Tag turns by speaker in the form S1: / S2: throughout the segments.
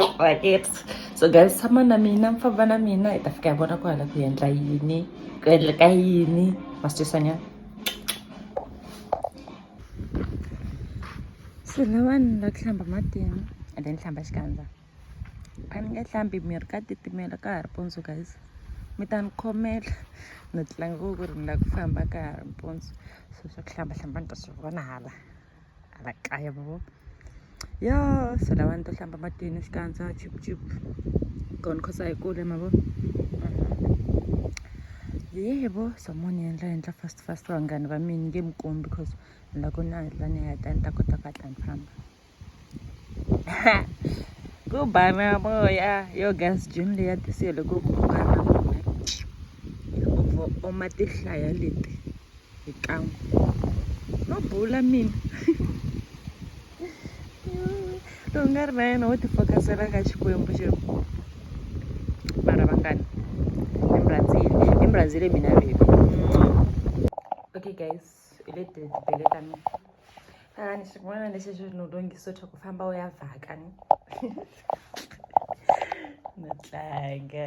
S1: Alright, it's so guys tshama na mina mi famba na mina hi ta fika hi vona ku hala ku endla yini ku endleka yini masitwisanyana se lavani la ku hlamba matini and then hlamba xikandza a ni nge hlambi miri ka titimela ka ha ri mpundzu guys mi ta ni khomela ni tlanga ku ri ni la ku famba ka ha ri mpundzu so swa ku hlamba hlamba ni ta swi vona hala a va kaya va vo yo se lava ni to hlamba matini xikandza chip chip kona khosa yi kule ma vo yebo somo ni endla endla fast fast vanghani va mina nge mi kombi because ni la ku ni hatla ni heta ni ta kota ku hatla ni famba ku bana moya yo gas gym leya tisiyo loko ku bana moya u oma tihlaya leti xikan'we no bula mina lowu nga ri na yena wo tifokasela ka xikwembu xi mara vangani embrazil embrazil mina baby okay guys hi le tibele ta mina a ni xin'wana lexi xi no lunghiso xa ku famba u ya vhaka ni no tlanga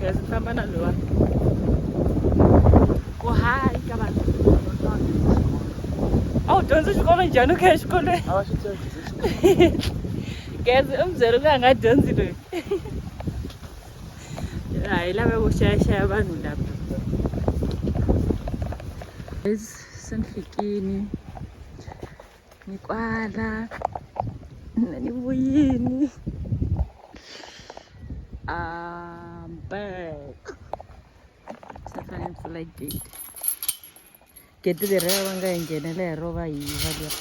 S1: Guys, ni famba na loyi wa ku hayi ka vanhu a wu dyondzi xikolo njhani u kha exikolweni a va swi tivi dyondzo xikolo Guys, u mi byele ku a nga dyondzi loyi a hi lava ku xayaxaya vanhu lava Guys, se ni fikini ni kwala mina ni ku yini I'm back se fane ni pfula gate gate leri a va nga yi nghenela hi rova hi va leri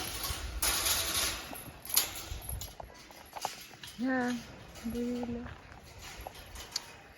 S1: ya mbuyile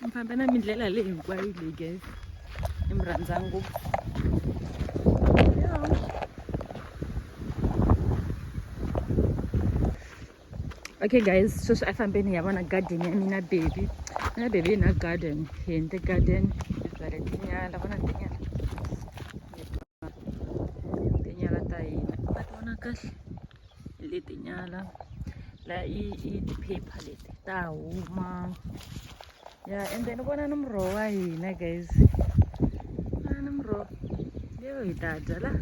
S1: mi famba na mindlela leyi hinkwayo leyi ge i mi rhandza ngopfu okay guys sweswi a fambeni ya vona garden ya mina baby mina baby na garden hi endle garden hi byale tinyala vona tinyala tinyala ta hina a ti vona kahle leti nyala la i i ti-paper leti ta huma ya ende ni vona ni muroho wa hina guys vona ni muroho leyo hi ta dya la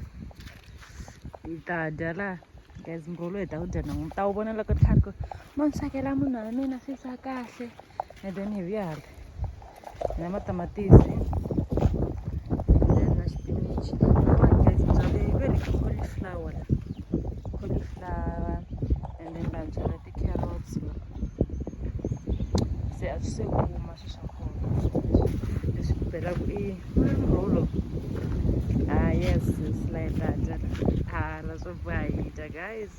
S1: hi ta dya la guys muroho lowu hi ta wu dya nan'wini ta wu vona loko ni kha ni ku mo ni swekela munhu wa mina swi sa kahle and then hi vuya hala na matamatisi na xipinichi very cauliflower cauliflower and then va byala ti-carrots se a swi se kuma swi swa kona leswi ku belaku i rolo ah yes it's like that ah na swo boha hi dya guys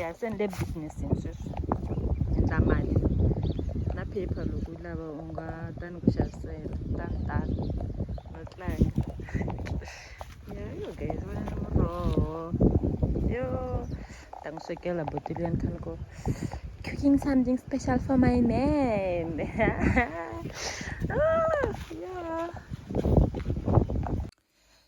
S1: ya se ni le business-ini sweswi endla mali na paper loko yi lava u nga ta ni ku xavisela ta ni tala no tlanga ya yo guys va na muroho yo ta n'wi swekela botile ya ni khale ko cooking something special for my man ah, yeah.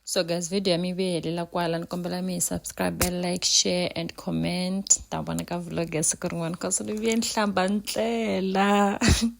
S1: so guys video ya mi ve helela kwala ni kombela mi subscribe like share and comment ta vona ka vlog ya siku rin'wana cause ni vuye ni hlamba ndlela